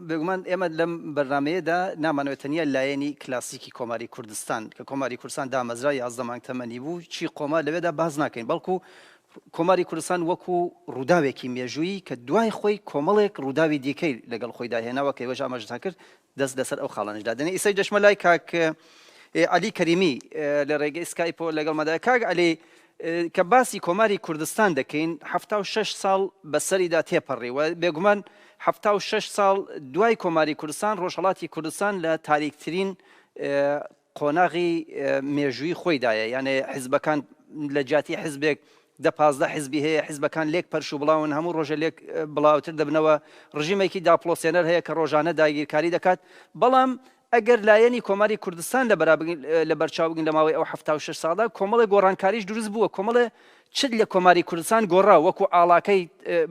بێگومان ئێمە لەم بەرنامەیەدا نامانەوێت تەنیا لایەنی کلاسیکی کۆماری کوردستان کە کۆماری کوردستان دامەزرا یازدە مانگ تەمەنی بوو چی قۆمار لەوێدا باز ناکەین بەڵکو کۆماری کوردستان وەکو ڕووداوێکی مێژوویی کە دوای خۆی کۆمەڵێک ڕووداوی دیکەی لەگەڵ خۆی داهێناوە کە وەژ ئاماژتان کرد دەست لەسەر ئەو خاڵانش دادێنێ ئیسەی دەشمە لای کاک علی کەریمی لە ڕێگەی سکایپۆ لەگەڵ مەدای کاک علی کە باسی کۆماری کوردستان دەکەین حەفتا و شەش ساڵ بە سەریدا تێپەڕی و بێگومان حەفتا و شەش ساڵ دوای کۆماری کوردستان ڕۆژهەڵاتی کوردستان لە تاریکترین قۆناغی مێژووی خۆیدایە یانێ حزبەکان لە جیاتی حزبێک دە پازدە حزبی هەیە حزبەکان لێک پەرش و بڵاون هەموو ڕۆژە لێک بڵاوتر دەبنەوە ڕژیمێکی داپلۆسێنەر هەیە کە ڕۆژانە داگیرکاری دەکات بەڵام ئەگەر لایەنی کۆماری کوردستان لەبەرچاو بگرین لە ماوەی ئەو حەفتا و شەش ساڵدا کۆمەڵێ گۆڕانکاریش دروست بووە، کۆمەڵێ چت لە کۆماری کوردستان گۆڕا، وەکوو ئاڵاکەی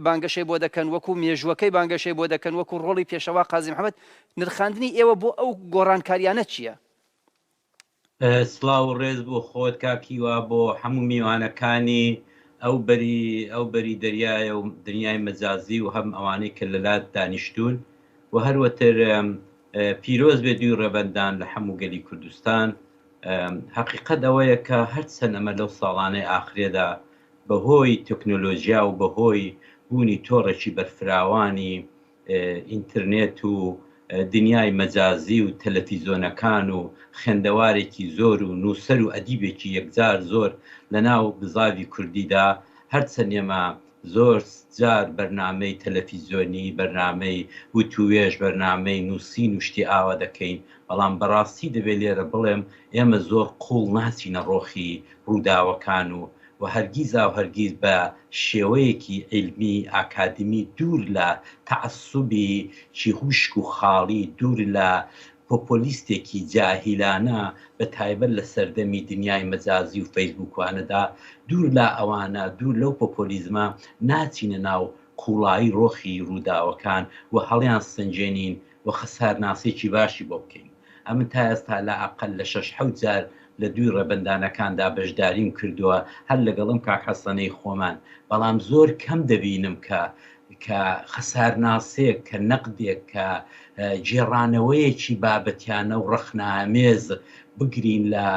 بانگەشەی بۆ دەکەن، وەکوو مێژووەکەی بانگەشەی بۆ دەکەن، وەکوو ڕۆڵی پێشەوا قازی محەمەد، نرخاندنی ئێوە بۆ ئەو گۆڕانکارییانە چییە؟ سڵاو و ڕێز بۆ خۆت کاک هیوا بۆ هەموو میوانەکانی ئەو بەری ئەو بەری دەریایە و دنیای مەجازی و هەم ئەوانەی کە لەلات دانیشتوون و هەروەتر پیرۆز بێ دووی ڕەبەندان لە حەموو گەلی کوردستان هەقیقەت ئەوەیە کە هەرچەن ئەمە لەو ساڵانەی ئاخرێدا بەهۆی تەکنۆلۆژیا و بەهۆی بوونی تۆڕێکی بەرفراوانی ئینترنێت و دنیای مەجازی و تەلەفیزۆنەکان و خێندەوارێکی زۆر و نووسەر و ئەدیبێکی یەکجار زۆر لە ناو بزاڤی کوردیدا هەرچەنێمە زۆر جار بەرنامەی تەلەفیزۆنی، بەرنامەی وتووێژ، بەرنامەی نووسین و شتی ئاوا دەکەین، بەڵام بەڕاستی دەبێ لێرە بڵێم ئێمە زۆر قووڵ ناچینە ڕۆخی ڕووداوەکان و و هەرگیزاو هەرگیز بە شێوەیەکی عیلمی ئاکادمی دوور لە تەعەسوبی چیهوشک و خاڵی دوور لە پۆپۆلیستێکی جاهیلانە بە تایبەت لە سەردەمی دنیای مەجازی و فەیسبوکوانەدا دوور لە ئەوانە دوور لەو پۆپۆلیزمە ناچینە ناو قوڵایی ڕۆخی ڕووداوەکان و هەڵیان سەنجێنین و خەسارناسێکی باشی بۆ بکەین. ئەمن تا ئێستا لا ئەقەل لە شەش حەوت جار لە دووی ڕێبەندانەکاندا بەشداریم کردووە هەر لەگەڵم کاک حەسەنەی خۆمان بەڵام زۆر کەم دەبینم کە کە خەسارناسێک کە نەقدێک کە گێڕانەوەیەکی بابەتیانە و ڕەخنامێز بگرین لە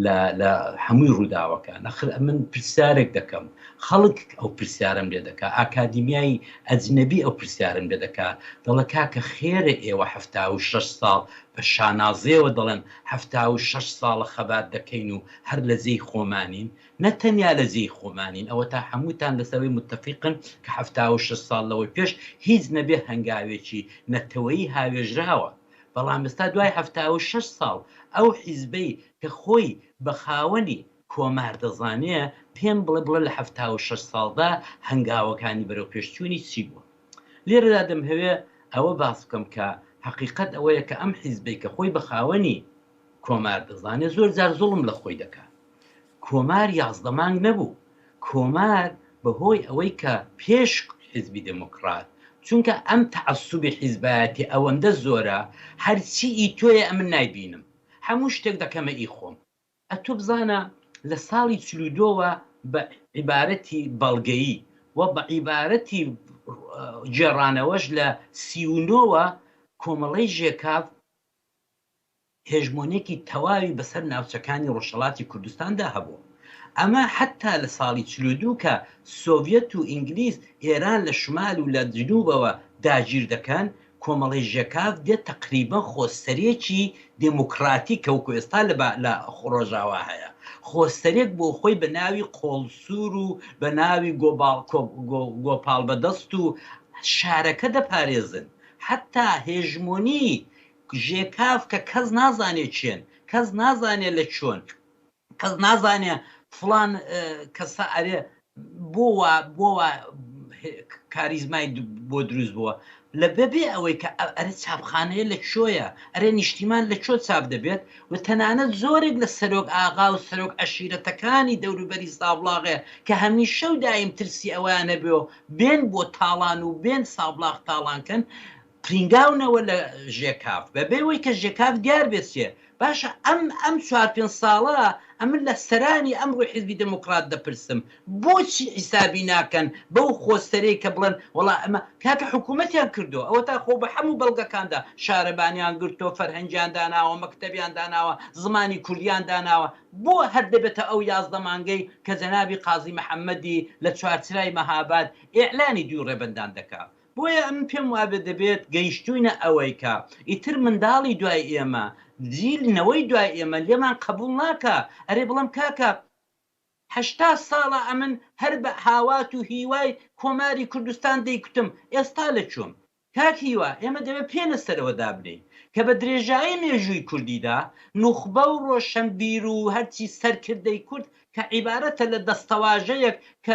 لە لە هەمووی ڕووداوەکان ئەخر ئەمن پرسیارێک دەکەم خەڵک ئەو پرسیارەم لێ دەکا ئاکادیمیای ئەجنەبی ئەو پرسیارم لێ دەکا دەڵێ کاکە خێرە ئێوە حەفتا و شەش ساڵ بە شانازیەوە دەڵێن حەفتا و شەش ساڵە خەبات دەکەین و هەر لە جێی خۆمانین نە تەنیا لە جێی خۆمانین ئەوەتا هەمووتان لەسەر ئەوەی موتەفیقن کە حەفتا و شەش ساڵ لەوەی پێش هیچ نەبێ هەنگاوێکی نەتەوەیی هاوێژراوە بەڵام ئێستا دوای حەفتا و شەش ساڵ ئەو حیزبەی کە خۆی بە خاوەنی کۆمار دەزانێ پێم بڵێ بڵێ لە حەفتا و شەش ساڵدا هەنگاوەکانی بەرەو پێشچوونی چی بووە؟ لێرەدا دەمهەوێ ئەوە باس بکەم کە حەقیقەت ئەوەیە کە ئەم حیزبەی کە خۆی بە خاوەنی کۆمار دەزانێ زۆر جار زوڵم لە خۆی دەکا. کۆمار یازدە مانگ نەبوو، کۆمار بەهۆی ئەوەی کە پێش حیزبی دێمۆکڕات، چونکە ئەم تەعەسوبی حیزبایەتی ئەوەندە زۆرە، هەر چی ئی تۆیە ئەمن نایبینم، هەموو شتێک دەکەمە ئی خۆم. ئەتوو بزانە لە ساڵی چل و دوو وە بە عیبارەتی بەڵگەیی و بە عیبارەتی گێڕانەوەش لە سی و نۆ وە کۆمەڵەی ژێکاف، هێژمۆنیەکی تەواوی بەسەر ناوچەکانی ڕۆژهەڵاتی کوردستاندا هەبوو. ئەمە حەتا لە ساڵی چل و دوو کە سۆڤیەت و ئینگلیز ئێران لە شمال و لە جنوبەوە داگیر دەکەن، کۆمەڵەی ژێکاف دێت تەقریبەن خۆسەرێکی دێمۆکڕاتیکە وەکو ئێستا لە ڕۆژاوا هەیە. خۆسەرێک بۆ خۆی بە ناوی قۆڵسوور و بە ناوی گۆپاڵبەدەست و شارەکە دەپارێزن. حەتا هێژمۆنی ژێکاف کە کەس نازانێ کێن، کەس نازانێ لە کوێن، کەس نازانێ فڵان کەسە ئەرێ بۆ وا بۆ وا کاریزمای بۆ دروست بووە، لە بەبێ ئەوەی کە ئەرێ چاپخانەیە لە کوێیە، ئەرێ نیشتیمان لە کوێ چاپ دەبێت و تەنانەت زۆرێک لە سەرۆک ئاغا و سەرۆک عەشیرەتەکانی دەوروبەری سابڵاغێ کە هەمیشە و دایم ترسی ئەوەیان هەبێ و بێن بۆ تاڵان و بێن سابڵاغ تاڵان کەن، پرینگاونەوە لە ژێکاف بەبێ ئەوەی کە ژێکاف دیار بێت چیە باشە ئەم ئەم چوار پێنج ساڵە ئەمن لە سەرانی ئەمڕۆی حیزبی دێمۆکڕات دەپرسم بۆچی حیسابی ناکەن بەو خۆسەرەی کە بڵێن وەڵا ئەمە کاکە حکوومەتیان کردووە ئەوەتا خۆ بە حەموو بەڵگەکاندا شارەبانیان گرتووە فەرهەنگیان داناوە مەکتەبیان داناوە زمانی کوردیان داناوە بۆ هەر دەبێتە ئەو یازدە مانگەی کە جەنابی قازی محەممەدی لە چوارچرای مەهاباد ئێعلانی دووی ڕێبەندان دەکات بۆیە ئەمن پێم وابێت دەبێت گەیشتووینە ئەوەی کە ئیتر منداڵی دوای ئێمە، جیل، نەوەی دوای ئێمە لێمان قەبووڵ ناکا، ئەرێ بڵم کاکە، هەشتا ساڵە ئەمن هەر بە هاوات و هیوای کۆماری کوردستان دەیکوتم، ئێستا لە کوێم؟ کاک هیوا، ئێمە دەبێت پێ لە سەرەوە دابنێین کە بە درێژایی مێژووی کوردیدا، نوخبە و ڕۆشەنبیر و هەرچی سەرکردەی کورد کە عیبارەتە لە دەستەواژەیەک کە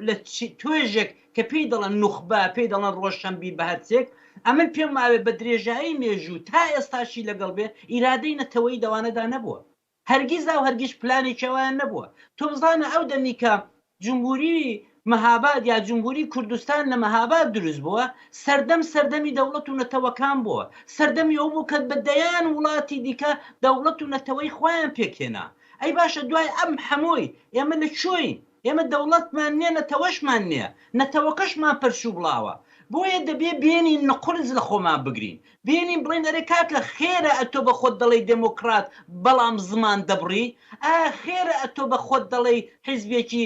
لە توێژێک کە پێی دەڵێن نوخبە، پێی دەڵێن ڕۆشەنبیر بە هەرچێک، ئەمن پێم وابێ بە درێژایی مێژوو تا ئێستاشی لەگەڵ بێ، ئیرادەی نەتەوەیی دەوانەدا نەبووە. هەرگیزا و هەرگیز پلانێکی ئەویان نەبووە. تۆ بزانە ئەو دەمی کە جمهوری مهاباد یا جمهوری کوردستان لە مهاباد دروست بووە، سەردەم سەردەمی دەوڵەت و نەتەوەکان بووە. سەردەمی ئەو بوو کە بە دەیان وڵاتی دیکە دەوڵەت و نەتەوەی خۆیان پێکهێنا. ئەی باشە دوای ئەم هەمووی ئێمە لە کوێین؟ ئێمە دەوڵەتمان نیە نەتەوەشمان نیە، نەتەوەکەشمان پرچ و بڵاوە، بۆیە دەبێ بێنین نقورس لە خۆمان بگرین، بێنین بڵێین ئەرێ کاکە خێرە ئەتۆ بە خۆت دەڵێی دێمۆکڕات بەڵام زمان دەبڕی؟ ئایا خێرە ئەتۆ بە خۆت دەڵێی حیزبێکی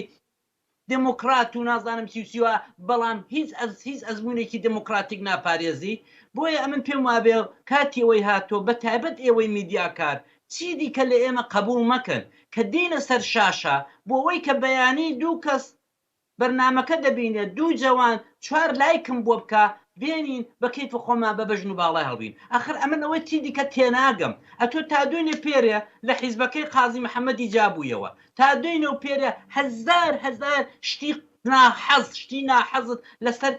دێمۆکڕات و نازانم چی و چی و بەڵام هیچ ئەز هیچ ئەزموونێکی دێمۆکڕاتیک ناپارێزی بۆیە ئەمن پێم وابێ کاتی ئەوەی هاتووە بە تایبەت ئێوەی میدیاکار چی دیکە لە ئێمە قەبووڵ مەکەن کە دێینە سەر شاشە بۆ ئەوەی کە بەیانی دوو کەس بەرنامەکە دەبینێ دوو جەوان چوار لایکم بۆ بکا بێنین بە کەیف خۆمان بە بەژن و باڵای هەڵبین ئەخر ئەمن ئەوەی چی دیکە تێناگەم ئەتۆ تا دوێنێ پێرێ لە حیزبەکەی قازی محەمەدی جابوویەوە تا دوێنێ و پێرە هەزار هەزار شتی ناحەز شتی ناحەزت لەسەر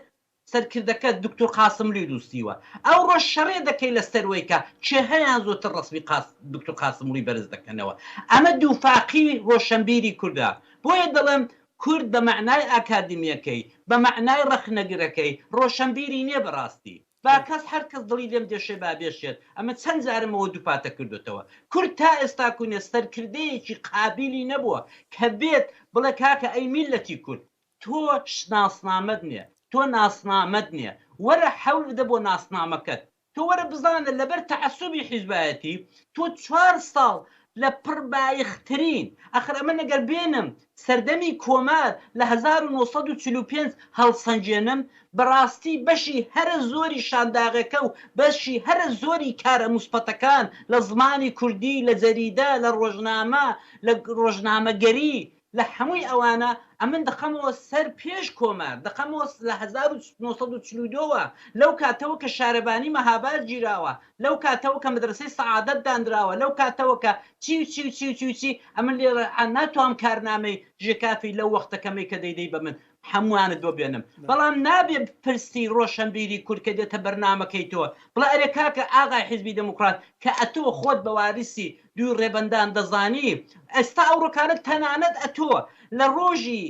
سەرکردەکەت دوکتور قاسملوی نوسیوە ئەوڕۆ شەڕێ دەکەی لەسەر وەی کە چێ هەیان زۆتر ڕەسمی قاس دوکتور قاسملوی بەرز دەکەنەوە ئەمە دووفاقی ڕۆشەنبیری کوردە بۆیە دەڵێم کورد بە مەعنای ئاکادمیەکەی بە مەعنای ڕەخنەگرەکەی ڕۆشەنبیری نیە بەڕاستی با کەس هەر کەس دڵی لێم دەشێ با بێشێت، ئەمە چەند جارم ئەوە دووپاتە کردۆتەوە. کورد تا ئێستاکوونێ سەرکردەیەکی قابیلی نەبووە کە بێت بڵێ کاکە ئەی میللەتی کورد تۆ شناسنامەت نێ، تۆ ناسنامەت نێ، وەرە حەول بدە بۆ ناسنامەکەت. تۆ وەرە بزانە لەبەر تەعەسوبی حیزبایەتی تۆ چوار ساڵ لە پڕ بایخ ترین ئەخر ئەمن ئەگەر بێنم سەردەمی کۆمار لە هەزار و نۆ سەد و چل و پێنج هەڵسەنگێنم بەڕاستی بەشی هەرە زۆری شانداغەکە و بەشی هەرە زۆری کارە موسبەتەکان لە زمانی کوردی لە جەریدە لە ڕۆژنامە لە ڕۆژنامەگەری لە هەمووی ئەوانە ئەمن دەخەمەوە سەر پێش کۆمار، دەخەمەوە لە هەزار و نۆ سەد و چل و دوو وە، لەو کاتەوە کە شارەبانی مەهاباد گیراوە، لەو کاتەوە کە مەدرەسەی سەعادەت دانراوە، لەو کاتەوە کە چی و چی و چی و چی و چی، ئەمن لێرە ناتوام کارنامەی ژێکافی لەو وەختە کەمەی کە دەیدەی بە من، هەمووانت بۆ بێنم بەڵام نابێ بپرسی ڕۆشەنبیری کورد کە دێتە بەرنامەکەی تۆ بڵێ ئەرێ کاکە ئاغای حیزبی دێموکڕات کە ئەتۆ خۆت بە واریسی دووی ڕێبەندان دەزانی ئێستا ئەو ڕکانەت تەنانەت ئەتۆ لە ڕۆژی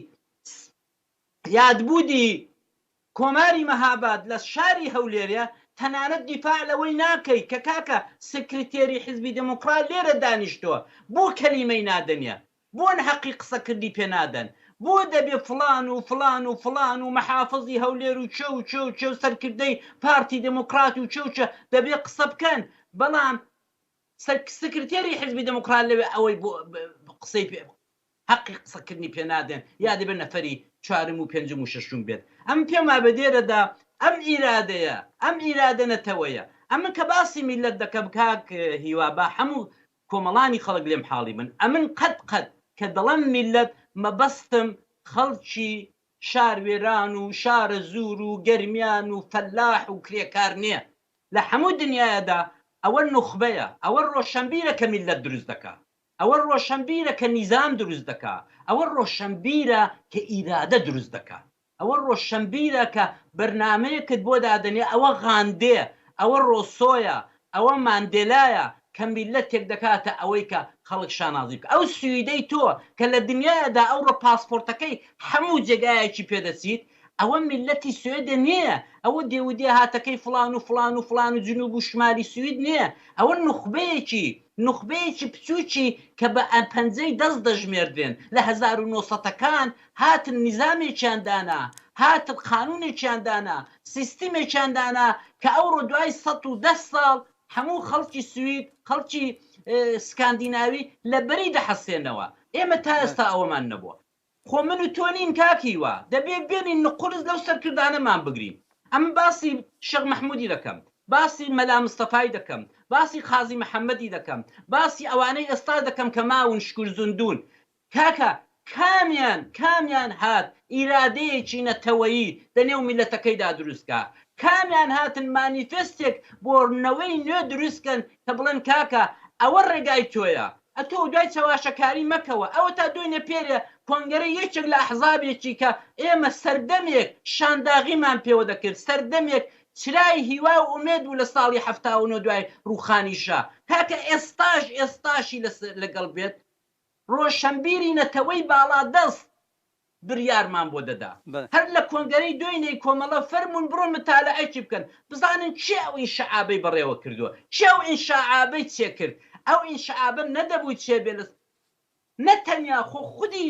یادبوودی کۆماری مەهاباد لە شاری هەولێرێ تەنانەت دیفاع لەوەی ناکەی کە کاکە سکرتێری حیزبی دێموکڕات لێرە دانیشتووە بۆ کەلیمەی نادەنێ؟ بۆن هەقی قسە کردی پێ نادەن بۆ دەبێ فڵان و فڵان و فڵان و مەحافزی هەولێر و چ و چ و چ و سەرکردەی پارتی دێمۆکڕات و چ و چ دەبێ قسە بکەن بەڵام سەر سکرتێری حیزبی دێمۆکڕات لەوێ ئەوەی بۆ قسەی پێ هەقی قسە کردنی پێ نادەن یا دەبێ نەفەری چوارم و پێنجم و شەشم بێت ئەم پێم وابێ دێرە دا ئەم ئیرادەیە ئەم ئیرادە نەتەوەیە ئەمن کە باسی میللەت دەکەم کاک هیوا با حەموو کۆمەڵانی خەڵک لێم حاڵی بن ئەمن قەت قەت کە دەڵێم میللەت مەبەستم خەڵکی شار وێران و شارەزوور و گەرمیان و فەلاح و کرێکار نیە لە حەموو دنیایەدا ئەوە نوخبەیە ئەوە ڕۆشەنبیرە کە میللەت دروست دەکا ئەوە ڕۆشەنبیرە کە نیزام دروست دەکا ئەوە ڕۆشەنبیرە کە ئیرادە دروست دەکا ئەوە ڕۆشەنبیرە کە بەرنامەیەکت بۆ دادەنێ، ئەوە غاندێ، ئەوە ڕۆسۆیە، ئەوە ماندێلایە کە میللەتێک دەکاتە ئەوەی کە خەڵک شانازی بکا. ئەو سویدەی تۆ کە لە دنیایەدا ئەوڕۆ پاسپۆرتەکەی حەموو جێگایەکی پێ دەچیت، ئەوە میللەتی سوێدە نییە، ئەوە دێودێهاتەکەی فڵان و فڵان و فڵان و جنووب و شمالی سوید نییە، ئەوە نوخبەیەکی، نوخبەیەکی پچووکی کە بە پەنجەی دەست دەژمێردرێن لە هەزار و نۆ سەدەکان هاتن نیزامێکیان دانا، هاتن قانوونێکیان دانا، سیستمێکیان دانا کە ئەوڕۆ دوای سەد و دە ساڵ هەموو خەڵکی سوید، خەڵکی سکاندیناوی لە بەری دەحەسێنەوە. ئێمە تا ئێستا ئەوەمان نەبووە. خۆ من و تۆ نین کاک هیوا، دەبێ بێنین نقوورس لەو سەرکردانەمان بگرین. ئەمن باسی شێخ مەحموودی دەکەم، باسی مەلا مستەفای دەکەم، باسی قازی محەممەدی دەکەم، باسی ئەوانەی ئێستاش دەکەم کە ماون شکور زندوون. کاکە کامیان کامیان هات ئیرادەیەکی نەتەوەیی دە نێو میلەتەکەیدا دروست کا؟ کامیان هاتن مانیفێستێک بۆ نەوەی نوێ دروست کەن کە بڵێن کاکە ئەوە ڕێگای تۆیە ئەتۆ دوای چەواشەکاری مەکەوە ئەوەتا دوێنێ پێرێ کۆنگەرەی یەکێک لە ئەحزابێکی کە ئێمە سەردەمێک شانداغیمان پێوە دەکرد سەردەمێک چرای هیوا و ئومێد بوو لە ساڵی حەفتا و نۆ دوای ڕووخانی شا کاکە ئێستاش ئێستاشی لە لەگەڵ بێت ڕۆشنبیری نەتەوەی باڵادەست بریارمان بۆ دەدا هەر لە کۆنگەرەی دۆینێی کۆمەڵە فەرموون بڕۆن متالەعەکی بکەن بزانن کێ ئەو ئینشعابەی بەڕێوە کردووە کێ ئەو ئینشاعابەی چێ کرد ئەو ئینشعابە نەدەبوو چێ بێ لە نە تەنیا خۆ خودی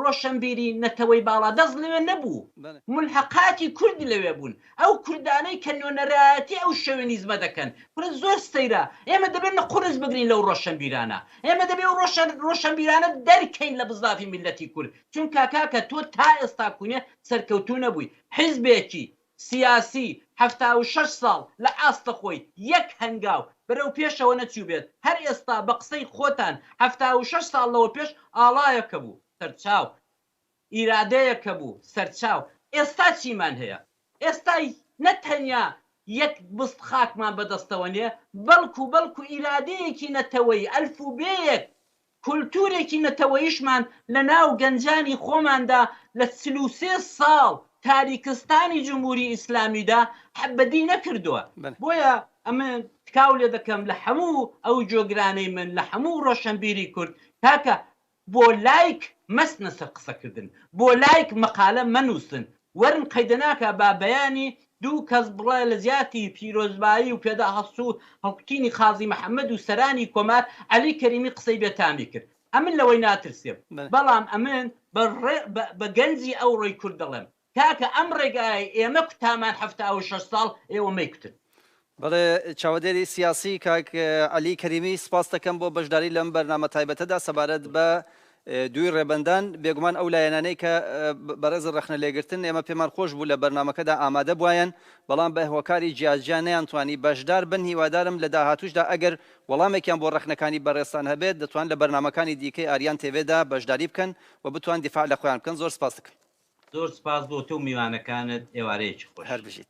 ڕۆشنبیری نەتەوەی باڵادەست لەوێ نەبوو ملحقاتی کوردی لەوێ بوون ئەو کوردانەی کە نوێنەرایەتی ئەو شۆوێنیزمە دەکەن، کورە زۆر سەیرە، ئێمە دەبێ نە قورس بگرین لەو ڕۆشەنبیرانە، ئێمە دەبێ ئەو ڕۆشەن ڕۆشەنبیرانە دەرکەین لە بزاڤی میللەتی کورد، چونکا کاکە تۆ تا ئێستا کونێ سەرکەوتوو نەبووی، حیزبێکی سیاسی حەفتا و شەش ساڵ لە ئاست خۆی یەک هەنگاو بەرەو پێشەوە نەچووبێت، هەر ئێستا بە قسەی خۆتان حەفتا و شەش ساڵ لەوە پێش ئاڵایەکە بوو، سەرچاو. ئیرادەیە کە بوو سەرچاو ئێستا چیمان هەیە ئێستا نە تەنیا یەک بست خاکمان بەدەستەوە نیە بەڵکو بەڵکو ئیرادەیەکی نەتەوەیی ئەلفوبێیەک کولتورێکی نەتەوەیشمان لە ناو گەنجانی خۆماندا لە چل و سێ ساڵ تاریکستانی جمهوری ئیسلامیدا حەبەدی نەکردوە بۆیە ئەمن تکاو لێدەکەم لە هەموو ئەو جۆگرانەی من لە هەموو ڕۆشەنبیری کورد کاکە بۆ لایک مەستنە سەر قسە کردن بۆ لایک مەقالە مەنوسن وەرن قەیدە ناکا با بەیانی دوو کەس بڵێ لە جیاتی پیرۆزبایی و پێدا هەست و هەڵکوتینی قازی محمد و سەرانی کۆمار عەلی کەریمی قسەی بێ تامی کرد ئەمن لەوەی ناترسێم بەڵام ئەمن بە گەنجی ئەوڕۆی کورد دەڵێم کاکە ئەم ڕێگایەی ئێمە کوتامان حەفتا و شەش ساڵ ئێوە مەیکوتن. بەڵێ چاوەدێری سیاسی کاک عەلی کەریمی سپاست دەکەم بۆ بەشداری لەم بەرنامە تایبەتەدا سەبارەت بە دووی ڕێبەندان بێگومان ئەو لایەنانەی کە بەڕێز ڕەخنە لێگرتن ئێمە پێمان خۆش بوو لە بەرنمەکەدا ئامادە بواەن بەڵام بە هۆکاری جیاجیا نەیانتوانی بەشدار بن هیوادارم لە داهاتوشدا ئەگەر وەڵامێکیان بۆ ڕەخنەکانی بەڕێزتان هەبێت دەتوان لە بەرنمەکانی دیکەی ئاریان تێڤێدا بەشداری بکەن و بتوان دیفاع لە خۆیان بکەن زۆر سپاستکەم. زۆر سپاس بۆ تۆ و میوانەکانت ئێوارەیەکی خۆش. هەربژیت